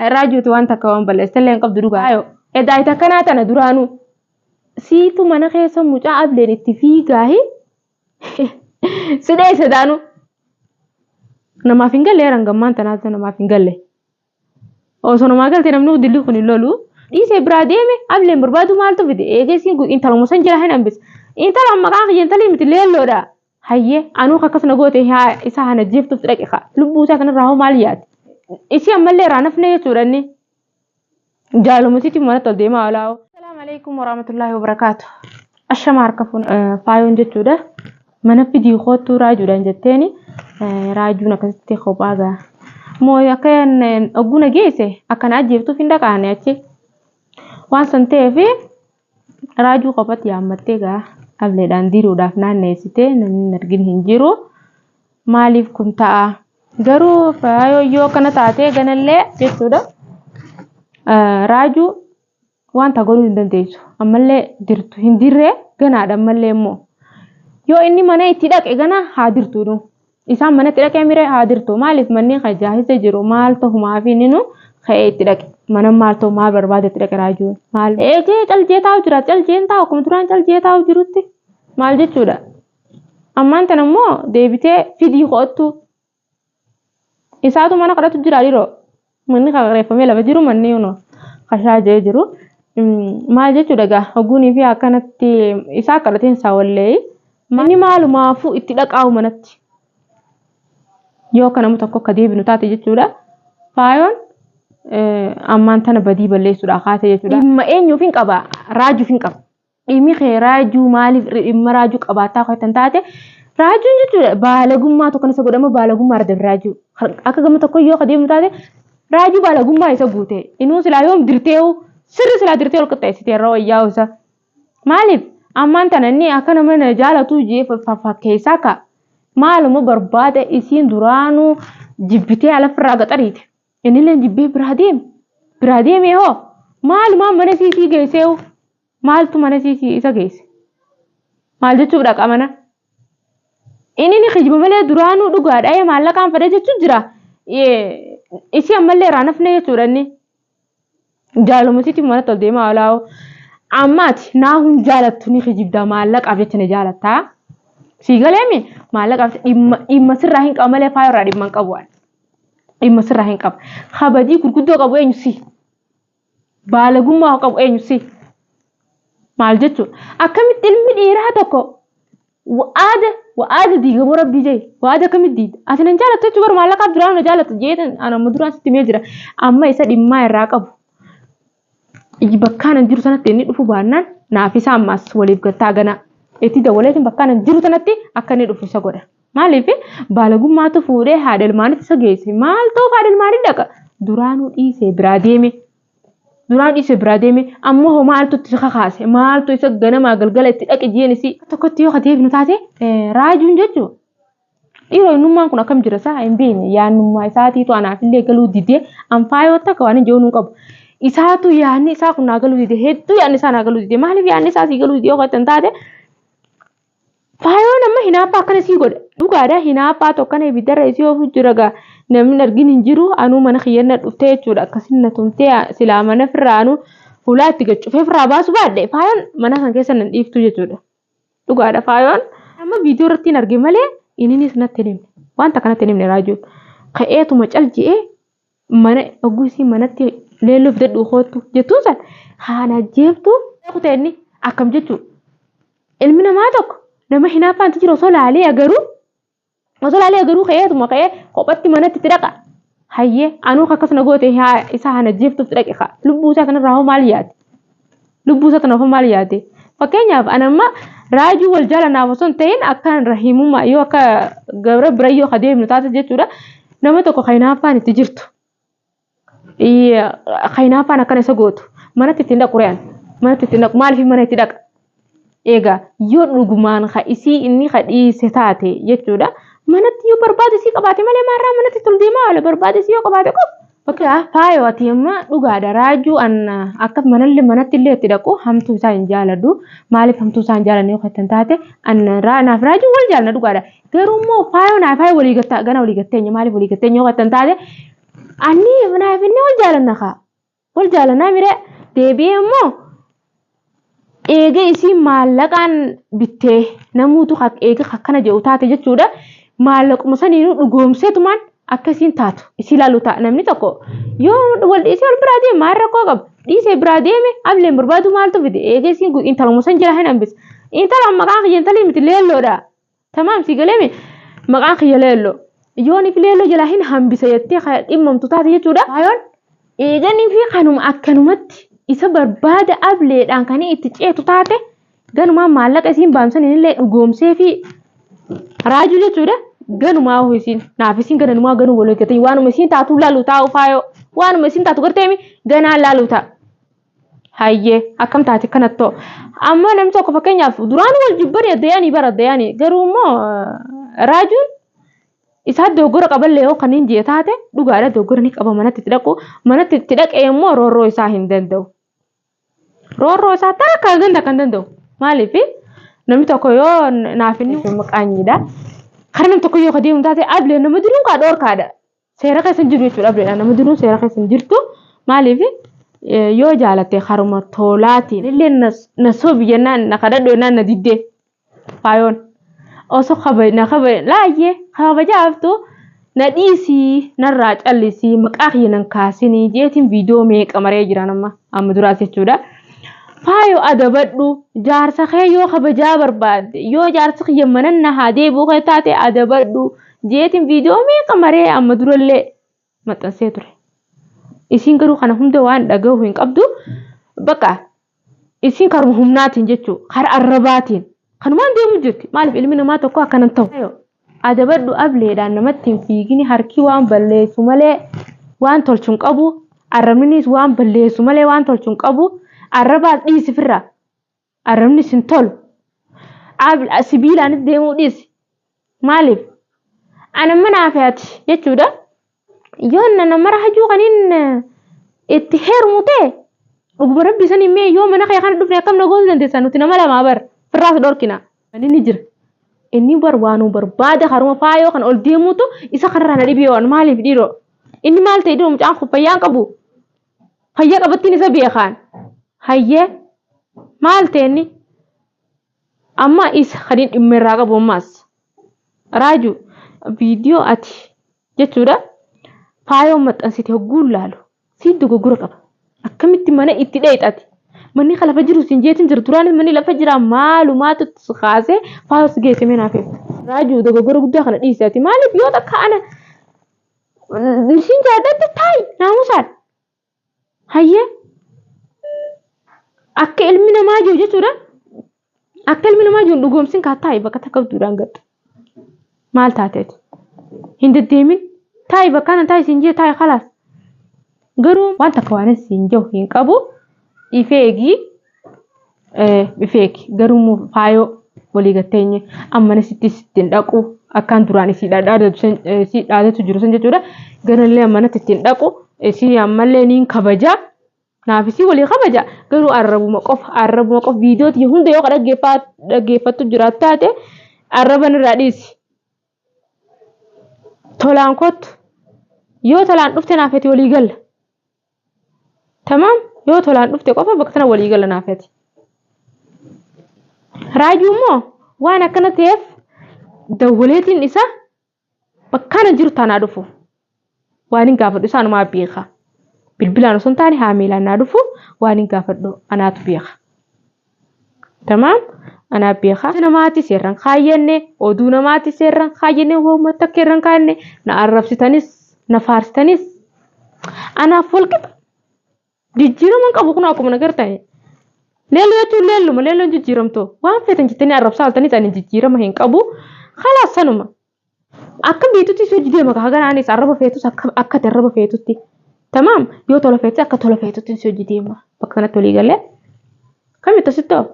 Irraa jirtu waan takka waan balleessa illee hin qabdu dhugaa yoo. Edaa ita kanaa tana duraanuu. Siitu mana keessa mucaa ableen itti fiigaahi. Sidhee sedaanuu. Namaaf hin galle eran gammaan tanaatu namaaf hin galle. Osoo namaa galte namni dilli kun hin lolu. Dhiisee biraa deeme ableen barbaadu maaltu fide eegeessi intaluma san jira hin hambise. Intalaan maqaan kiyya intalii miti leelloodha. Hayyee anuu ka akkas na goote haa isa hana jeeftuuf dhaqe kaa lubbuu isaa kanarraa hoo maal yaade? Isii ammallee irraa nafne jechuudha inni. Jaalumasiitti manatti ol deemaa olaa hoo. Assalaamu alaikum warahmatullaahi wabarakaatu. Ashama harka fuun faayoon jechuudha. Mana fidii koottuu raajuudhaan jetteeni raajuun akkasitti kophaa ga'a. Moo akka ogguu na geesse akka na ajjeeftuuf hin dhaqaane achi. Waan san ta'eef Raajuu qofatti yaammattee gaa ableedhaan diruudhaaf naanneessitee namni hin argin hin jiru. Maaliif kun ta'a? Garuu faayoo yoo akkana taatee ganallee jechuudha. Ah, Raajuu wanta godhuu hin dandeessu. Ammallee dirtu hin dirree ganaadha ammallee immoo. Yoo inni mana itti dhaqe gana haa dirtuudhu. Isaan manatti dhaqee miree haa dirtu maaliif manneen kan jaahisa jiru maal tahumaa fi ninu ka'ee itti dhaqe mana maal ta'u maal barbaade itti dhaqe raajuu maal eegee calcee taa'u jira calceen taa'u akkuma duraan calcee taa'u jirutti maal jechuudha ammaan tan ammoo deebitee fidii ko'attu isaatu mana kadhatu jira dhiroo Manni qaqreeffamee lafa jiru manni yoonoo kashaa jee jiru. Maal jechuudha egaa hogguunii fi akkanatti isaa akka dhateen isaa wallee manni maalumaafuu itti dhaqaa'u manatti yoo akka nama tokko akka deebinu taate jechuudha. Faayoon ammaan tana badii balleessuudhaa kaatee jechuudha. Dhimma eenyuuf hin qaba raajuuf hin qaba. Dhimmi kee raajuu maaliif dhimma raajuu qabaataa akka hin taate raajuun jechuudha baalagummaa tokko isa godhama baalagummaa irra dabre raajuu akka gama tokko yoo ka deemu taate raajuu baalagummaa isa guute inuu silaa yoom dirteehu sirri silaa dirtee ol qixxeessite irra wayyaa isa maaliif ammaan tana inni akka nama na jaalatu jee fakkeessaa ka maaluma barbaada isiin duraanuu jibbitee alafirraa gaxariite innillee jibbee biraa deeme biraa deemee hoo maalumaa mana isiitii geesseehu Maaltu mana isii isa geesse? Maal jechuuf dhaqa mana? Inni ni kijiba malee duraanuu dhugaadha ee maallaqaan fedha jechuun jira. Isii ammallee irraa nafne jechuudha inni. Jaaluma isiitiif manatti ol deemaa olaa'oo. Ammaati naa hun jaalattu ni kijibda maallaqaaf jecha na jaalattaa. Sii galeemi maallaqaaf dhimma dhimma sirraa hin qaba malee faayoo irraa dhimma hin qabu. Dhimma sirraa hin qaba. Kabajii gurguddoo qabu eenyu si? Baalagummaa haa qabu eenyu si? Maal jechuudha? Akkamitti ilmi dhiiraa tokko wa'aada wa'aada diigamoo rabbii jee wa'aada akkamitti diida? Ati nan jaalattu jechuun bara maallaqaaf duraa na jaalatta jeetan an amma duraan sitti himee jira. Amma isa dhimmaa irraa qabu. Iji bakkaan an jiru sanatti inni dhufu baannaan naaf isa ammaas waliif gattaa ganaa. Itti dawwaleetiin bakkaan an jiru sanatti akka inni dhufu isa godha. Maaliif baalagummaatu fuudhee haadha ilmaanitti isa geesse. Maal ta'uuf haadha ilmaanii dhaqa? Duraanuu dhiisee biraa deeme. Duraan dhiisee biraa deeme ammoo hoo maaltu itti kakaase? Maaltu isa ganamaa galgala itti dhaqe jeen isii? Tokkotti yoo deebinu taate raajuun jechuun dhiiroo innummaan kun akkam jira isaa hin beekne yaannummaa isaatiitu anaafillee galuu didee anfaa yoo takka waan hin jechuun qabu. Isaatu yaanni isaa kun naa galuu didee hedduu yaanni isaa naa galuu didee maaliif yaanni isaa sii galuu didee yoo kan taate Faayoon amma hinaaffaa akkana sii godhe dhugaadha hinaaffaa tokkana ibiddarra isii oofuu jira gaa namni argin hin jiru anuu mana kiyyanna dhuftee jechuudha akkasin na tumtee silaa mana firraa anuu fuulaa itti gaccufee firraa baasu baadhe faayoon mana kan keessa nan dhiiftu jechuudha dhugaadha faayoon amma viidiyoo irratti hin arge malee ininis natti hin himne wanta kanatti hin himne raajuun ka'eetuma cal je'ee mana ogusii manatti leelloo fidadhu koottu jettuun san haana jeeftu kutee inni akkam jechuu ilmi namaa tokko nama hinaaffaan itti jiru osoo laalee agaruu osoo laalee agaruu ka'eetuma ka'ee kophatti manatti itti dhaqa hayyee anuu akkas na goote haa- isa haana jeeftuuf itti dhaqe kaa lubbuu isaa kanarraa hoo maal yaade lubbuu isaatti nafa maal yaade fakkeenyaaf an amma raajuu wal jaalanaaf osoo hin ta'in akkaan rahimummaa yoo akka gabra bira yoo ka deemnu taate jechuudha nama tokko ka hinaaffaan itti jirtu ka hinaaffaan akkana isa gootu manatti ittiin dhaqu re'an manatti ittiin dhaqu maaliif mana itti dhaqa Egaa yoo dhugumaan ka isii inni ka dhiise taate jechuudha. Manatti yoo barbaade isii qabaate malee maarraa manatti tol deemaa oole barbaade isii yoo qabaate qof. Bakka faayoo ati amma dhugaadha raajuu anna akka manallee manatti illee itti dhaqu hamtuu isaa hin jaaladhu. Maaliif hamtuu isaa hin jaalanne yoo kan taate anna raa naaf raajuu wal jaalna dhugaadha. Garuu immoo faayoo naaf faayoo walii gattaa gana walii gatteenya maaliif walii gatteenya yoo kan taate anni naaf inni wal jaalanna kaa. Wal jaalanaa mire deebi'ee immoo eega isii maallaqaan bittee namuutu eega akkana jedhu taate jechuudha. Maallaquma saniinuu dhugoomseetumaan akka isiin taatu isii laalu ta'a namni tokko yoo wal dhiisee wal biraa deeme maal rakkoo qaba dhiisee biraa deeme ableen barbaadu maaltu fide eega isiin intaluma san jira hin hambisa. Intala maqaan kiyya intalii miti leelloodha Tamaam si galeemi maqaan kiyya leelloo. Yooniif leelloo jalaa hin hambisa jettee kan dhimmamtu taate jechuudha. Kaayoon eeganii fi kanuma akkanumatti isa barbaada ableedhaan kan itti ceetu taate ganumaa maallaqa isiin baamsaniin illee dhugoomsee fi raajuu jechuudha. Ganumaa hoo isiin naaf isiin gananumaa ganuu wal eeggatanii waanuma isiin taatu laalu taa'u faayoo waanuma isiin taatu garteemi ganaa laalu ta'a. Hayyee akkam taate kanattoo amma namni tokko fakkeenyaaf duraan wal jibbani addayani bara addayani garuu immoo raajuun isaa dogoggora qaballee yoo kan hin jee taate dhugaadha dogoggora ni qaba manatti itti dhaqu manatti itti dhaqee immoo roorroo isaa hin danda'u. Roorroo isaa takka ganda kan danda'u maaliif namni tokko yoo naaf inni maqaanyiidha. Kan namni tokko yoo kadeemu taate ablee nama duruun kaa dhoorkaadha. Seera keessa hin jiru jechuudha abdeedhaan nama duruu seera keessa hin jirtu maaliif yoo jaalatte haruma toolaatiin illee na sobi jennaan na kadhadhu jennaan na diddee faayoon osoo kabaj na kabaj laayyee kabajaaftu na dhiisii narraa callisii maqaa kiyya nan kaasinii jeetiin viidiyoo meeqa maree jira nama amma duraas jechuudha. Faayoo adabadhu jaarsa kee yoo kabajaa barbaadde yoo jaarsi kiyya manan na haa deebi'u kee taate adabadhu. Jeetiin viidiyoo meeqa maree amma durallee maxxansee ture. Isiin garuu kana hunda waan dhagahu hin qabdu. Baqa isiin karuma humnaatiin jechuu kara arrabaatiin kanumaan deemu jirti. Maaliif ilmi namaa tokko akkanan ta'u. Adabadhu ableedhaan namatti hin fiigini harki waan balleessu malee waan tolchu hin qabu. Arrabninis waan balleessu malee waan tolchu hin qabu. Arrabaas dhiisifirra. Arrabnis hin tolu. Ab- a- Sibiilaanis deemuu dhiisi. Maaliif? Ana mana hafeati jechuudha. Yoo nana mara hajuu kaniin eh, itti heerumu ta'e dhuguma rabbi sanii mee yoo mana kee kana dhufne akkam na goosuu dandeessaa nuti nama lamaa bar firraas dhorkina. Ani ni jira. Inni bar waanuma barbaada karuma faayoo kan ol deemuutu isa kanarraa na dhibee waan maaliif dhiiroo? Inni maal ta'e dhiiroo mucaan kun fayyaa hin qabu? Fayya qabattin isa beekaan. Hayyee maal ta'e inni? Amma isa kan hin dhimma irraa qabu ammaas. Raaju viidiyoo ati jechuudha faayoo maxxansite hogguun laalu si dogoggora qaba. Akkamitti mana itti dheexati? Manni kan lafa jiru siin jeetin jiru duraanis manni lafa jira maalumaatu si kaasee faayoo si geesse mee naaf himi. Raaju dogoggora guddaa kana dhiisi ati maaliif yoo takka ana Siin jaadhatti taa'i naamusaan. Hayyee akka ilmi namaa jiru jechuudha. Akka ilmi namaa jiru dhugoomsin kaa taa'i bakka takka duudhaan gatta. Maal taateeti? Hin deddeemin. Taa'i bakka kana taa'i siin jee taa'i kalaas. Garuu waan takka waan siin jiru hin qabu. Ifee eegii Dhufeeki garuu faayoo walii gatteenye ammana sitti ittiin dhaqu akkaan duraan isii dhaadatu jiru san jechuudha. Garallee ammanatti ittiin dhaqu isii ammallee niin kabaja. Naaf isii walii kabaja garuu arrabuma qofa arrabuma qofa viidiyoo tiyya hunda yoo dhaggeeffattu jiraat taate arraban irraa dhiisi. Tolaan kottu yoo tolaan dhufte naaf ati walii galla. Tamaam yoo tolaan dhufte qofa bakka sana walii gala naaf ati. Raajuu immoo waan akkana ta'eef dawwaleetiin isaa bakkaan hin jiru taanaa dhufu. Waan hin gaafadhu isaanumaa beeka. Bilbilaan osoo hin taane haamilaan naa dhufu waan hin gaafadhu anaatu beeka. Tamaam anaa beekaa. Jecha namaati seerran kaayyanne, oduu namaati seerran kaayyanne, hooma takka irran kaayyanne, na arrabsitanis, na faarsitanis, anaaf walqixa. Jijjiirama hin qabu kun akkuma na gartani. Leelloo jechuun leelluma, leelloon jijjiiramtoo. Waan feetan jettanii arrabsaa oltaniis ani jijjiirama hin qabu. Kalaas sanuma. Akka beetutti si hojii deema kaa gara anis arraba feetus akka akka ati arraba feetutti. Tamaam yoo tola feetus akka tola feetutti si hojii deema. Bakka kanatti walii galee. Kamitti asitti hoo?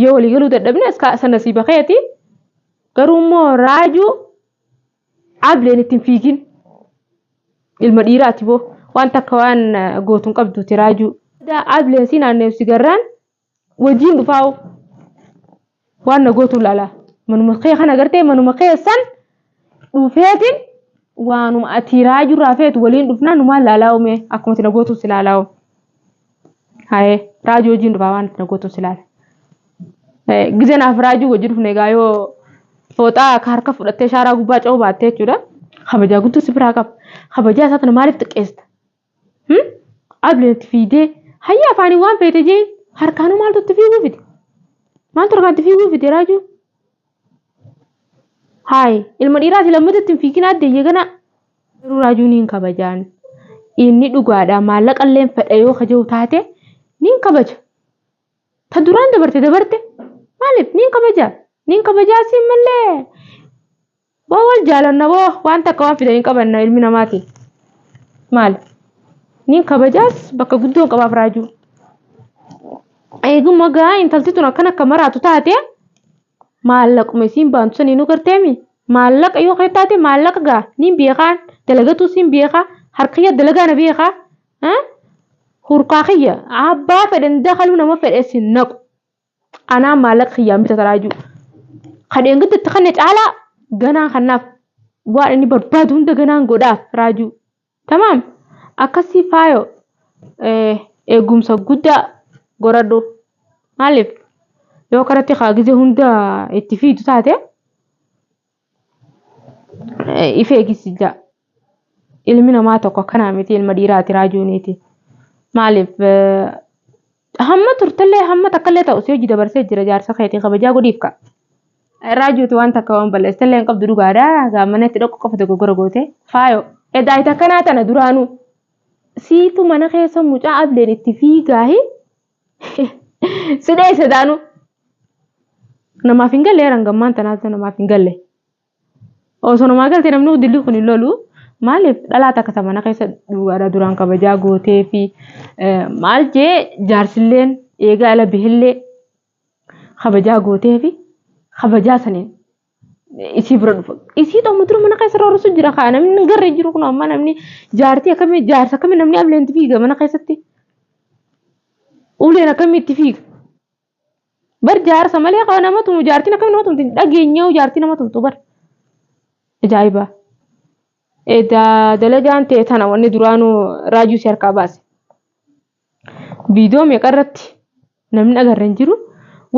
Yoo walii galuu dadhabne as kaa sana si bakeeti. Garuu immoo raajuu ableen ittiin fiigin. Ilma dhiiraati boo. Wanta akka waan gootuun qabduuti raajuu. Ableen si naanneessi garraan wajjiin dhufaa'u waan na gootu laala manuma kee kan agartee manuma keessan dhufeetiin waanuma ati raajuu irraa feetu waliin dhufnaa numaan laalaa uumee akkuma ati na gootu si laalaa uumee. Haye raajuu wajjin dhufaa waan itti nagootun si laala. Gizeen haaf raajuu wajjin dhufne egaa yoo fooxaa akka harka fudhattee shaaraa gubbaa ce'uu baattee jechuudha. Kabajaa guutuu si biraa qaba. Kabajaa isaa tana maaliif xiqqeessita? Hmm? Abli itti fiigdee hayya afaanii waan feete jeen harkaanuu maaltu itti fiiguu fide? Maaltu harkaan itti fiiguu fide raajuu? Haay ilma dhiiraati lammata itti hin fiigina adda iyya ganaa. Garuu raajuun hin kabajaan. Inni dhugaadha maallaqa illee fedha yoo kaja'u taate niin kabaja. Ta duraan dabarte dabarte maaliif niin kabaja? Niin kabajaa siin mallee Boo wal jaalanna boo waan takka waan fidan hin qabanna ilmi namaati. Maal? Niin kabajaas bakka guddoon qabaaf raajuu. Eeguma gaa intalti tun akkan akka maraatu taate maallaquma isiin baantu sanii nu garteemi. Maallaqa yoo kee taate maallaqa gaa niin beekaan dalagatuu siin beekaa harkiyya dalagaa na beekaa. Hurkaa kiyya abbaa fedhan dakaluu nama fedhes hin naqu. Anaa maallaqa kiyyaan bita taraajuu. Kan eeggattu itti kanne caalaa ganaa kannaaf waan inni barbaadu hunda ganaan godhaaf raajuu. Tamaam akkasii faayoo eegumsa guddaa goradhu. Maaliif yoo karatti kaa gizee hunda itti fiidu taate if eegisijaa ilmi namaa tokko akkanaa miti ilma dhiiraati raajuuniiti maaliif hamma turtellee hamma takkallee ta'u si hojii dabarsee jira jaarsa keetii kabajaa godhiif ka raajuuti waan takka waan balleessellee hin qabdu dhugaadha gaammanee itti dhoqqu qofa dogoggora goote faayo edaa ita akkanaa tana duraanuu siitu mana keessa mucaa ableen itti fiigaahi si dheesse daanu namaaf hin galle heeran gammaan tanaatu namaaf hin galle osoo namaa galte namni dilli kun hin lolu maaliif dhalaa takka ta mana keessa dhugaadha duraan kabajaa gootee fi maal jee jaarsilleen eegaa ala bihillee kabajaa gootee fi kabajaa saniin isii bira dhufa. Isii ta'u mutura mana keessa roorrisu jira kaa namni garra hin jiru kun amma namni jaartii akkamii jaarsa akkamii namni ableen itti fiiga mana keessatti. Uleen akkamii itti fiiga. Bar jaarsa malee kaa nama tumu jaartiin akkamii nama tumti dhageenyaa jaartii nama tumtu bar. Ajaa'iba. Edaa dalagaan ta'e tana wanni duraanuu raajuu si harkaa baase. Video meeqa irratti namni agarre hin jiru.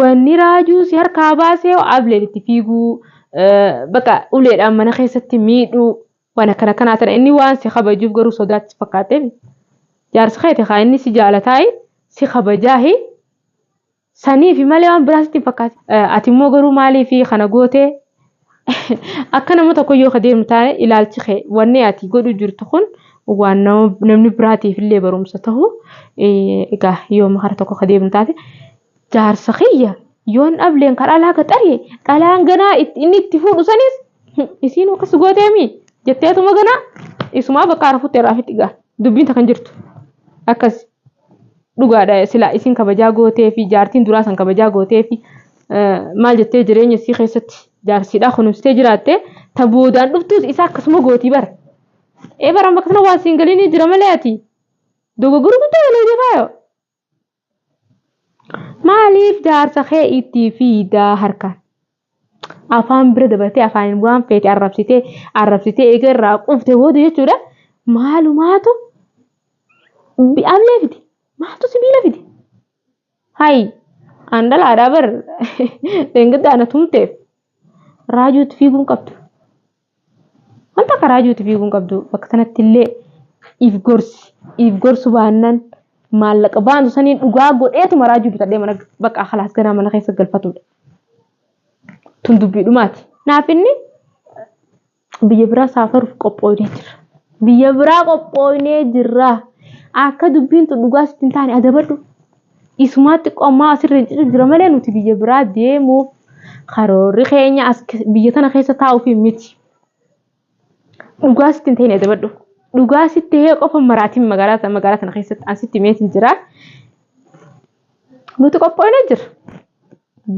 Wanni raajuu si harkaa baasee ableen itti fiiguu baqa uleedhaan mana keessatti miidhuu waan akkana kanaa tana inni waan si kabajuuf garuu sodaatti fakkaatee jaarsi keeti haa inni si jaalataayi si kabajaahi Saniifi malee waan biraa sitti hin fakkaatu. Ati immoo garuu maaliif kana gootee akka nama tokko yoo ka deemu taane ilaalchi kee wanni ati godhu jirtu kun waan namni biraatiif illee barumsa ta'u egaa yoo makara tokko ka deemu taate jaarsa kiyya yoon dhableen ka dhalaa gaxaree dhalaan ganaa inni itti fuudhu sanis isiin akkas gooteemi jetteetuma ganaa isumaa bakka arafutti irraa fitti gaa dubbiin takkan jirtu akkas. Dhugaadha silaa isin kabajaa gootee fi jaartiin duraa san kabajaa gootee fi maal jettee jireenya isii keessatti jaarsiidhaa kunuunsitee jiraatte ta boodaan dhuftuus isaa akkasuma gootii bara. Ee bara amma akkasuma waan siin galiinii jira malee ati dogoggora guddaa galee deemaa yoo. Maaliif jaarsa kee itti fiidaa harkaan? afaan bira dabartee afaaniin waan feete arrabsitee arrabsitee eega irraa qufte booda jechuudha maalumaatu bi'amlee fide maaltu sibiila fide hayi an dhalaadhaa bar dhengidda ana tumteef raajuutti fiiguun qabdu Wanta karaa ijuuti fiiguu hin qabdu. Bakka sanatti illee if gorsi. If gorsu baannan maallaqa baantu saniin dhugaa godheetu maraa ijuu bitadhee mana bakka halaas ganaa mana keessa galfatudha. Tun dubbii dhumaati. Naaf inni biyya biraa saafaruuf qophooynee jirra. Biyya biraa qophooynee jirra. Akka dubbiin tun dhugaa sitti hin taane adabadhu. Isumaa xiqqoo ammaa asirra hin citu jira malee nuti biyya biraa deemuuf karoorri keenya as ke- biyya tana keessa taa'uuf miti. Dhugaa sitti hin ta'in adabadhu. Dhugaa sitti ta'ee qofa maraatiin magaalaa ta- magaalaa tana keessatti an sitti meetiin jira. Nuti qophoonee jira.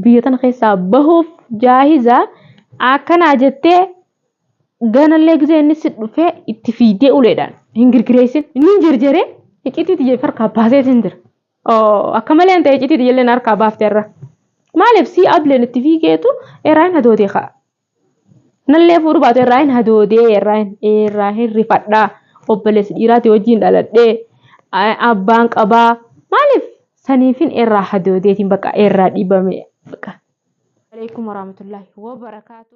Biyya tana keessaa bahuuf jaahiza akkanaa jettee Ganallee gisee inni si dhufee itti fiigdee uleedhaan hin girgireessin. Inni hin jerjeree iccitii tiyya harkaa baasee sin jira. Akka malee ta'e iccitii tiyya illee harkaa baafte irra. Maaliif si ableen itti fiigeetu irraa hin hadoodee ka'a. Nallee fuudhu baatu irraa hin hadoodee irraa hin irraa hin rifadhaa. Obboleessi dhiiraati wajjin dhaladhee abbaan qabaa. Maaliif saniifin irraa hadoodeetiin bakka irraa dhibame bakka. Waalaikum warahmatullahi wabarakatuh.